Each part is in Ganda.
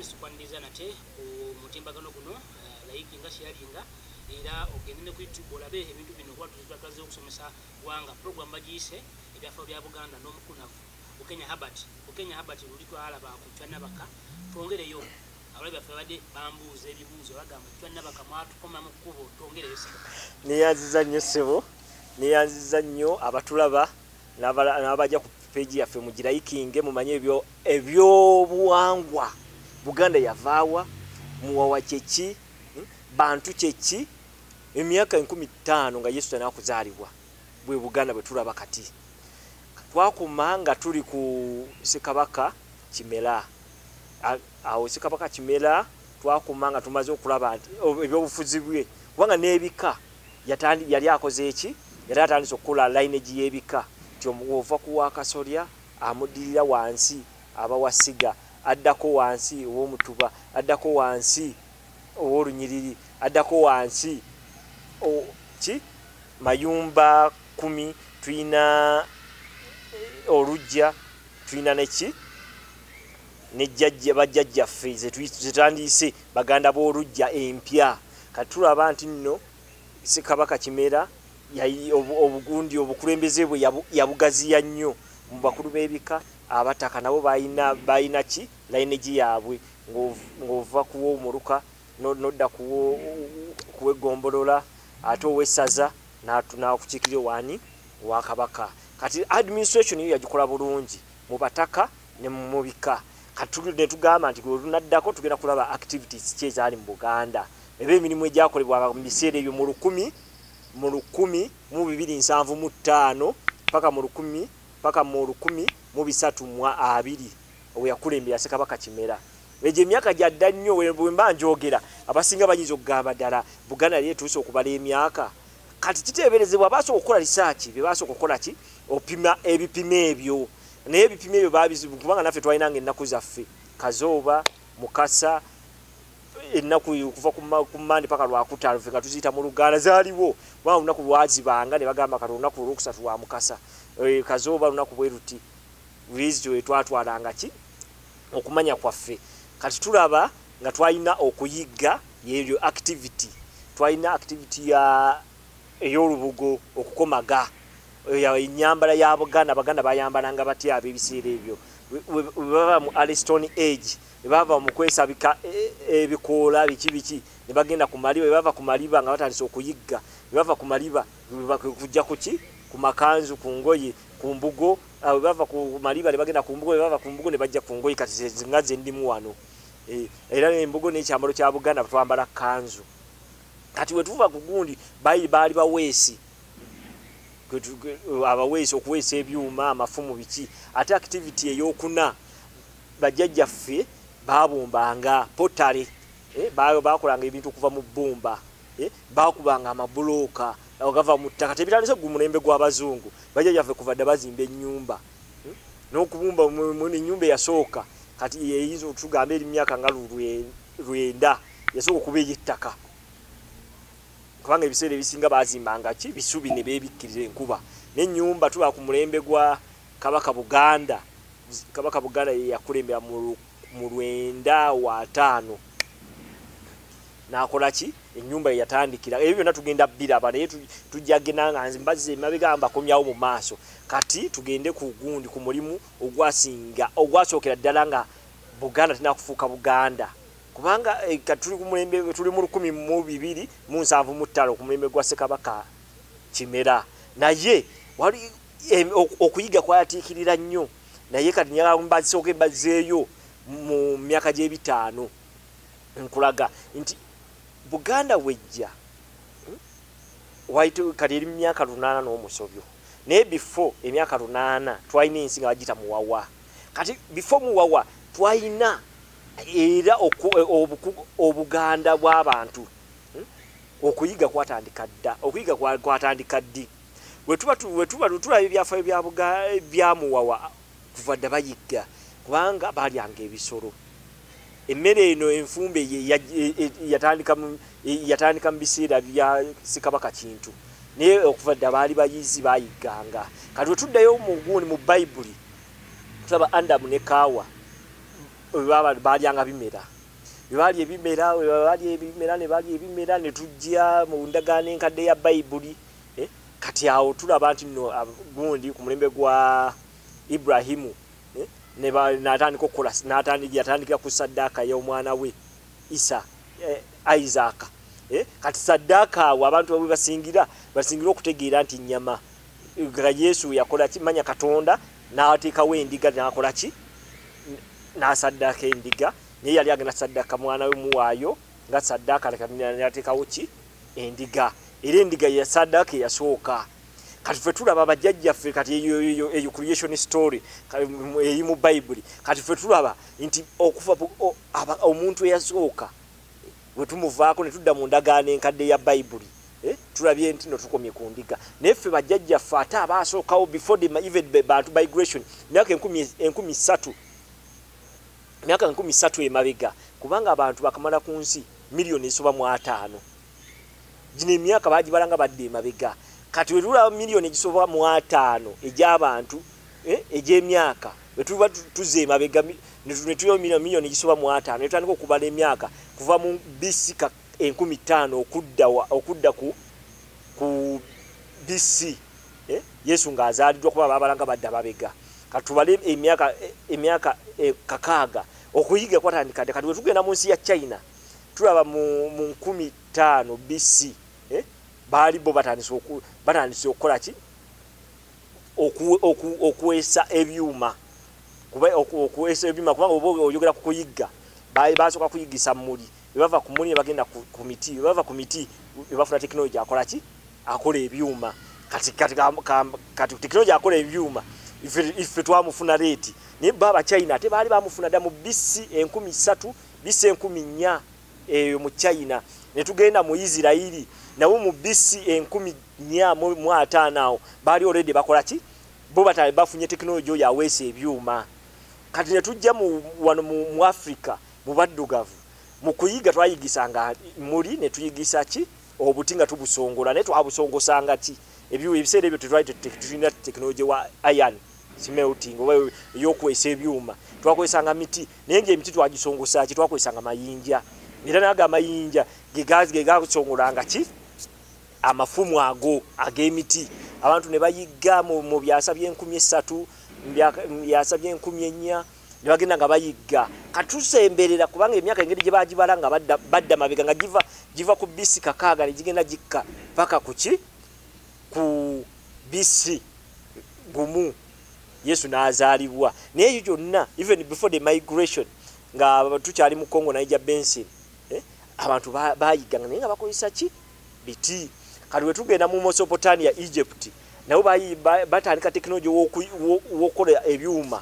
sikwaniriza nate ku mutimbagano guno eh, layiki nga kyeyalinga era ogende ne ku youtube olabe ebintu bino kuba tuzitagaze okusomesa gwanga program bagiyise ebyafao bya buganda n'omukunavu ukenya habert ukenya habert luli twalaba ku cyanabaka twongereyo abalabi baffe babadde bambuuza ebibuuzo bagamba cyanabaka mwatukoma mu kkubo twongereyo neyanziza nnyo ssebo neyanziza nnyo abatulaba n'abaja ku peegi yaffe mugirayikinge mumanye ebyobuwangwa buganda yavaawa muwawa kyeki hmm? bantu kyeki emyaka enkumi ttaano nga yesu tanakuzaalibwa bwe buganda bwe tulaba kati twakuma nga tuli ku sekabaka kimera awo sekabaka kimera twakuma nga tumaze okulaba nti ebyobufuzi bwe kubanga n'ebika yatandi yali akoze eki yali atandise okukola lineage y'ebika nti ova ku wakasolya amuddirira wansi aba wasiga addako wansi ow'omutuba addako wansi ow'olunyiriri addako wansi ki mayumba kumi tulina eh, olujja tulina neki nejjajja bajjajjaffe zetandiyise baganda b'olujja empya kati tulaba nti nno ssekabaka kimera obugundi obukulembeze bwe yabugaziya nnyo mu bakulu b'ebika abataka nabo balina ki lainegi yaabwe ng'ova kuwa omuluka nodda kuwa eggombolola ate owessaza nakukiikirira waani wakabaka kati administration yo yagikola bulungi mu bataka ne mumubika katuludde tugamba nti olunaddako tugenda kulaba activities ki ezaali mu buganda eba emirimu egyakolebwanga mu biseera ebyo mu lukumi mu lukumi mu bibiri nsanvu mu ttaano paka mu lukumi paka mu lukumi mu bisatu mu abiri oweyakulembera sekabaka kimera egyo emyaka gyadda nnyo bwemba njogera abasinga bayinza okugamba ddala buganda yali etuuse okubala emyaka kati kiteeberezebwa basooka okukola risaaki bye basooka okukola ki opima ebipima ebyo naye ebipimo ebyo babizibu kubanga naffe twalina nga ennaku zaffe kazooba mukasa ennaku okuva ku mande paka lwakutaano fe nga tuziyita mu luganda zaaliwo kubanga olunaku lwazibanga ne bagamba kati olunaku olwokusatu lwa mukasa eh, kazooba lunaku bwe luti lwezityo etwatwalanga ki okumanya kwaffe kati tulaba nga twalina okuyigga yeeryo activity twalina activity ya ey'olubugo okukomaga eyo enyambala ya buganda abaganda bayambalanga batya ab'ebiseera ebyo webaba mu alistone age webava mu kwesabika e, e, ebikoola biki biki ne bagenda ku maliba webava ku maliba nga batandise okuyigga webava ku maliba kujja kuki ku makanzu ku ngoye ku mbugo webava ku maliba ne bagenda ku mbugo webava ku mbugo ne bajja ku ngoye kati nga zendimu wano e, era embugo n'ekyambalo kya buganda twambala kanzu kati wetuva ku gundi bayi baali baweesi abaweesi okuweesa ebyuma amafumu biki ate activity eyokuna bajjajjaffe babumbanga potale eh, bakolanga ebintu okuva mu bbumba eh, bakubanga amabulooka agava mu ttaka tebitandise gu mulembe gw'abazungu bajjajjaffe kuva dda bazimba ennyumba eh, n'okubumba enyumba eyasooka kati eyinza otugamba eri myaka nga lulwe lwenda yasooka okuba ey'ettaka kubanga ebiseera ebisinga baazimbanga ki bisubi ne beebikkirira enkuba n'ennyumba tuba ku mulembe gwa kabaka buganda kabaka buganda ye yakulembera mu lwenda wataano nakola ki enyumba yatandikira ebyo byonna tugenda biraba naye tujja genda nga nze mbazze emabega mbakomyawo mu maaso kati tugende ku gundi ku mulimu ogwasinga ogwasookera ddala nga Buganda tulina kufuuka Buganda kubanga eh, tuli ku mulembe tuli mu lukumi mu bibiri mu nsanvu mu ttaano ku mulembe gwa Ssekabaka Kimera naye wali eh, okuyiga kwayatiikirira nnyo naye kati njagala mbazisooke mbazeeyo mu myaka gy'ebitaano nkulaga nti Buganda wejja waitu kati eri myaka lunana n'omusobyo naye before emyaka lunana twalina ensi nga bagiyita muwawa kati before muwawa twalina era obuganda bw'abantu hmm, okuyiga kwatandika dda okuyiga kwatandika ddi wetuba tulaba ebyafaayo byamuwawa kuva dda bayigga kubanga balyanga ebisolo emmere eno enfumbe yatandika mu biseera bya sikabaka kintu naye okuva dda baali bayizi bayigganga kati wetuddayo mugundi mu bayibuli tulaba andamu ne kaawa balyanga bimera bebali ebimera bali ebimera ne bali ebimera ne tujja mu ndagaano enkadde ya bayibuli eh, kati awo tulaba nti no gundi ku mulembe gwa ibrahimu eh, natandika okukola yatandikira ku saddaaka y'omwana we isa eh, isaaka kati saddaaka awo abantu bawe basingira basingira okutegeera nti nyama nga yesu yakola ki manya katonda n'ateekawo endiga n'akola ki n'asaddaaka endiga naye yali agenda saddaaka mwana we muwaayo nga saddaaka nateekawo ki endiga era endiga yasaddaaka eyasooka kati fe tulaba bajjajjaffe kati eyo creation story eri mu bayibuli kati fe tulaba nti okuva omuntu eyasooka Bwe tumuvaako ne tudda mu ndagaano enkadde ya Bayibuli, eh, tulabye nti no tukomye ku ndiga. Naye ffe bajjajjaffe ate abaasookawo before the even the Bantu migration emyaka enkumi enkumi ssatu emyaka enkumi ssatu emabega kubanga abantu bakamala ku nsi miliyoni ezisoba mu ataano gino emyaka bagibala nga badde emabega kati wetulaba miliyoni egisoba mu ataano egy'abantu eh, egy'emyaka bwe tuba tuzza emabega ne tuyomina miliyoni gisoba mu ataano ne tutandika okubala emyaka kuva mu bc enkumi ttaano okudda ku bc eh, yesu ng'azaaliddwa kuba babalanga badda babega katubale emyaka emyaka eh, kakaaga okuyiga kwatandika dde kati wetugenda mu nsi ya china tulaba mu nkumi ttaano bc eh, baali bo batandise okukola ki okuweesa ebyuma okuweesa ebyuma kubanga oba oyogera ku kuyigga basooka kuyiggisa muli bebava ku muli nebagenda ku miti bebava ku miti bebafuna tekinologi akola ki akola ebyuma kati tekinologi akola ebyuma ife twamufuna leeti naye bo abachina ate baali bamufuna dda mu bisi enkumi satu bisi enkumi nnya eyo mu china ne tugenda mu isirairi nawo mu bisi enkumi mya mu ataano awo baali already bakola ki bo batale bafunye tekinologi oyo aweesa ebyuma kati ne tujja wano mu africa mu baddugavu mu kuyiga twayigisanga muli ne tuyigisa ki obuti nga tubusongola naye twabusongosanga ki ebiwa ebiseera ebyo tetwali tulina tekinologi wa iron smelting oba eyokuweesa ebyuma twakozesanga miti naye ngaemiti twagisongosa ki twakozesanga mayinja era naga amayinja gegasongolanga ki amafumu ago ag'emiti abantu ne bayigga mu byasa by'enkumi essatu byasa by'enkumi ennya ne bagenda nga bayigga katusemberera kubanga emyaka engeri gye bagibala nga badda mabega nga giva giva ku bisi kakaaga ne gigenda gikka paka ku ki ku bisi gumu yesu n'azaalibwa naye ekyo kyonna even before the migration nga tukyali mu congo naija bensin eh, abantu bayigganga naye nga bakozesa ki biti kati wetugenda mu mosopotania egypt nabo batandika tekinologi wokukola ebyuma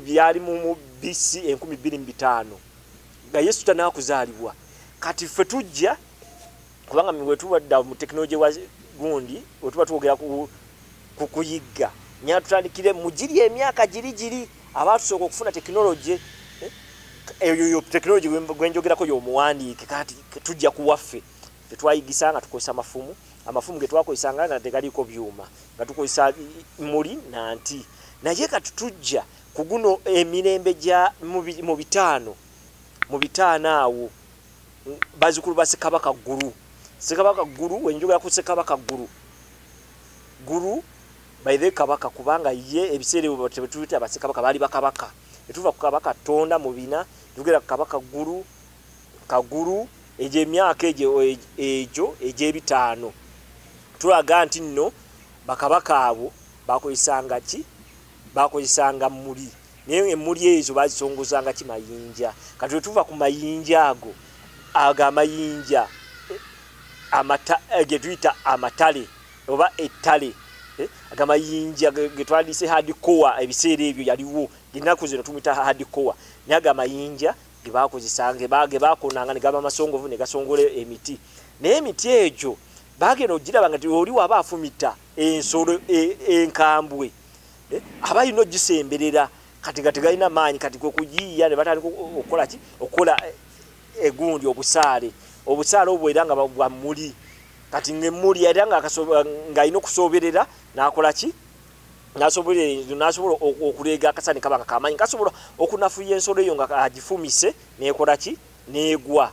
byali mu bc enkumi bbiri mu bitaano nga yesu tanakuzaalibwa kati ffe tujja kubanga wetubadda mu tekinologi wa gundi wetuba twogera ku ku kuyigga nyina tutandikire mu giri emyaka giri giri abaatusooka okufuna tekinologi eh, eyoyo tekinologi gwenjogerako yomuwandiike kati tujja kuwaffe tetwayigisa nga tukozesa amafumu amafumu getwakozesanga nga tegaliiko byuma nga tukozesa muli nanti naye kati tujja ku guno emirembe gya mu bitaano mu bitaano awo bazukulu ba sekabaka ggulu sekabaka ggulu wenjogera ku sekabaka ggulu ggulu baithe kabaka kubanga ye ebiseera ebyo tebetuyita basekabaka baali bakabaka etuva ku kabaka tonda mu bina tugera ku kabaka ggulu kagulu egyo emyaka egyo egyo egy'ebitaano tulaga nti nno bakabaka abo bakozesanga ki bakozesanga muli naye emmuli ezo bazisongozanga ki mayinja kati wetuva ku mayinja ago ago amayinja eh, getuyita amatale oba ettale eh, agamayinja getwandise hadikowa ebiseera ebyo yaliwo genaku zino tumuyita hadikowa naye ago amayinja gebakozesanga gebakonanga negaba amasongovu negasongola emiti naye emiti egyo bagenda ogiraba nga oli waba afumita ensolo e, enkambwe e, eh, aba alina ogisemberera kati nga tegalina maanyi kati kwe kugiyiya ne batandika okukola ki okukola eh, egundi obusaale obusaale obwo era nga bwa muli kati ngaemmuli era ng'alina okusooberera n'akola ki nasobola okuleega akasani kaba nga kamaanyi kasobola okunafuya ensolo eyo nga agifumise neekola ki neegwa